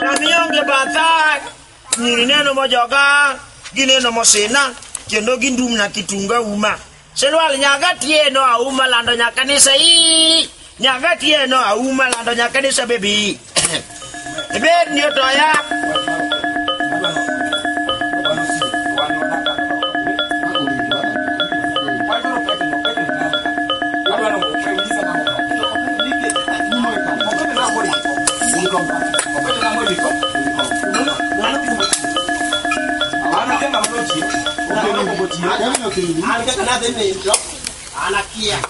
Namionge batha nyiri neno mojoga gineno mosina kendo gindumna kitunga uma silwal nyaga tieno auma lando nyakanisa ii Nyaka tieno auma lando nyaka ni sabebi. Ibed ni otoya. Anakia.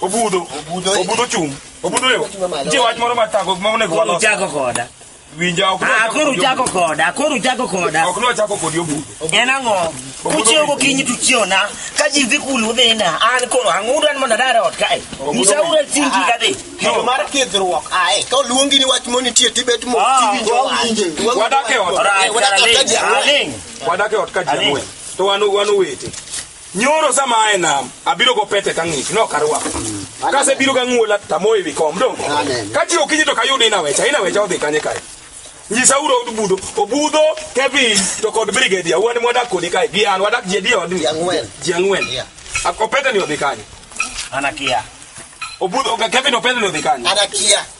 Obudo. Obudo. Obudo chung'. Obudo yo. Ji wach moro ma tago ma onego walos. Uchako koda. Winja ok. Ah, koro uchako koda. Koro uchako koda. Ok no chako kodi obudo. En ang'o? Kuchiewo gokinyi to uchiewo na. Ka ji dhi kulu dhi na. An koro ang'udo an mondo adar ot kae. Nyisa ura chingi ka dhi. Yo mar kidhruok. Ae, ka oluongi ni wach moni tie tibet mo. Wadake ot. Wadake ot ka ji. Wadake ot ka ji. To wanu wanu wete. Nyoro sama ae nam, abiro go pete ka ng'ich, no karwa. Kase biro ga ng'wola tamoe wi kom dongo. Amen. Ka chi okinyi to kayud ina wecha, ina wecha odhi kanye kae. Nyisa uro obudo, obudo, Kevin, to kod Brigadier, wan mwadak kodi kae, gi an, wadak ji adi odni? Ji ang'wen. Ji ang'wen. Yeah. Ak- Opete ni odhi kanye. Anakia. Obudo, Kevin opete ni odhi kanye. Anakia.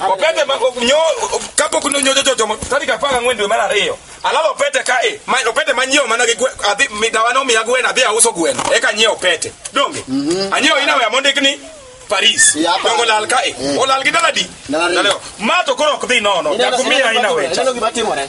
opete ma- o- nyo kapok nonyojo jochomo tarik apar gang'wen dwe mar ariyo alalo opete ka e ma- opete manyiewo mana gi gwe- adhi migawa nomiya gweno adhi auso gweno eka anyiewo opete donge anyiewo inawe amondik ni paris Ya, pa- donge olal ka e olal gi daladi Daladi. Daleo. ma to koro ok dhi nono Ineno- jakumiya inawe ineno gima timore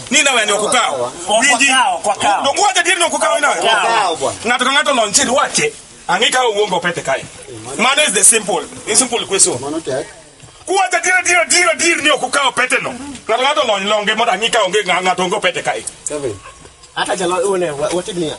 ni nawe ni okukawo winji Okawo, okawo. donge wacho adier ni okukawo ni nawe Okawo, bwana. ng'ato ka ng'ato lonchir wache ang'e ka owuongo pete kae mano is the simple in simple question Mano tek. kuwacho adier adier adier adier ni okukawo pete no ng'ato ka ng'ato lony longe mondo ang'e ka onge ng'a- ng'ato onge pete kae Kevin. Hata jalo one wategnia.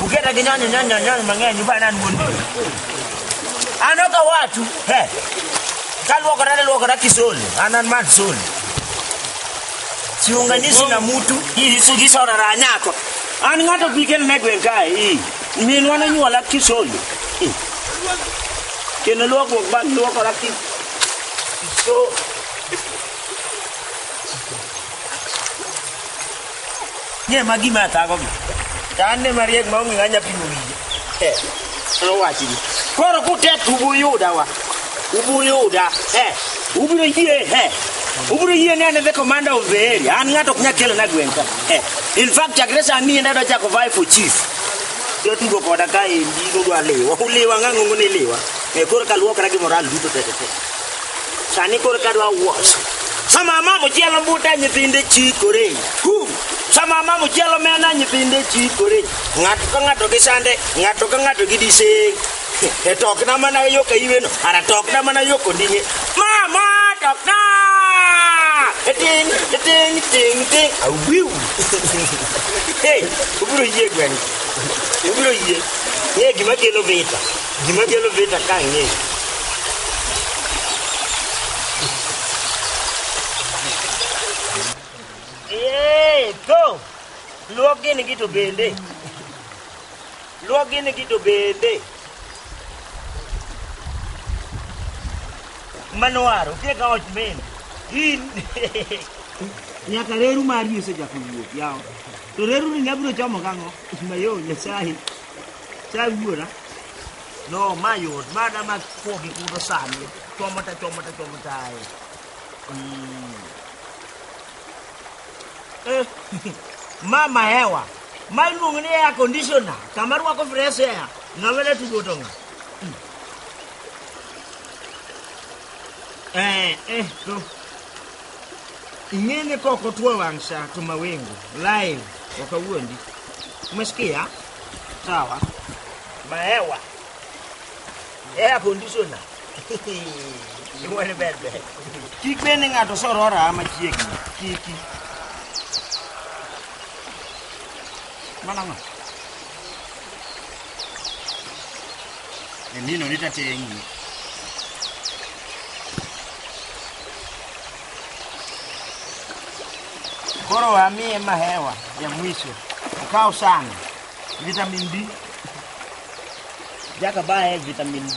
Ukienda kinyanya nyanya nyanya mang'eny ubana an wuon dini. An ok awachu. He. Kaluokora naluokora kisoli. An an man soli. Siunganishi na mtu. Hii sugi sora ra nyako. An ng'ato pikel ne gweng' kae. Hii. Minwa nonyuola kisoli. Hii. Kendo luokruok bang' luokora ki. So, Ng'e ma gima athagogi. To an ne mariek ma onge ng'anya pimo wiye. Eh, nowachgi. Koro kutet ubuyuda wa. Ubuyuda. Eh, ubiro yie. Eh, ubiro yie ni an e the commander of the area. An ng'ato ok nyal kelona gweng' ka. Eh, in fact, chakre sani en adwa chako vie for chief. Jotugo koda ka endi nudwa liwa. Uliwa ng'ang'ongo ni liwa. Eh, koro kaluokra gi moral duto te te te. sani koro ka dwa wuos sama mamo chielo buta nyithinde chikore Hu! sama mamo chielo mena nyithinde chikore ng'ato ka ng'ato gi sande ng'ato ka ng'ato gi diseng e tokna mana yo ka iweno ara tokna mana yo kondinye mama tokna ting ting ting ting awiu hey ubiro yie gweng ubiro yie ng'e gima kelo vita Gima kelo vita ka ng'e. Yee, to. Luok gini gi to bende. Luok gini gi to bende. Manwaro, tie ka ot men. In. Nyaka reru mari osechako wuok yawa. To reru ni nyabiro chomo kang'o? Mayo Nyasaye. Chal wuora. No, ma yot. Ma da ma kuo gi kudo sani. Chomo ta chomo ta chomo ta. ai. Mm. Eh, mama hewa. Ma iluongo ni air conditioner. Kama rwako fresh air. Ng'ama ne tugo to ng'a? Mm. Eh, eh, to. Ing'eni koko tuo wang'sha to mawingu live waka wuondi. Umesikia? Sawa. Maewa. Air conditioner. Iwani ber ber. Kik bende ng'ato sorora machiegni. Kiki. Mana ng'o? Emino nitatengi. Koro amiye mahewa ya mwisho, ukaw sana vitamin D, jaka baye vitamin D.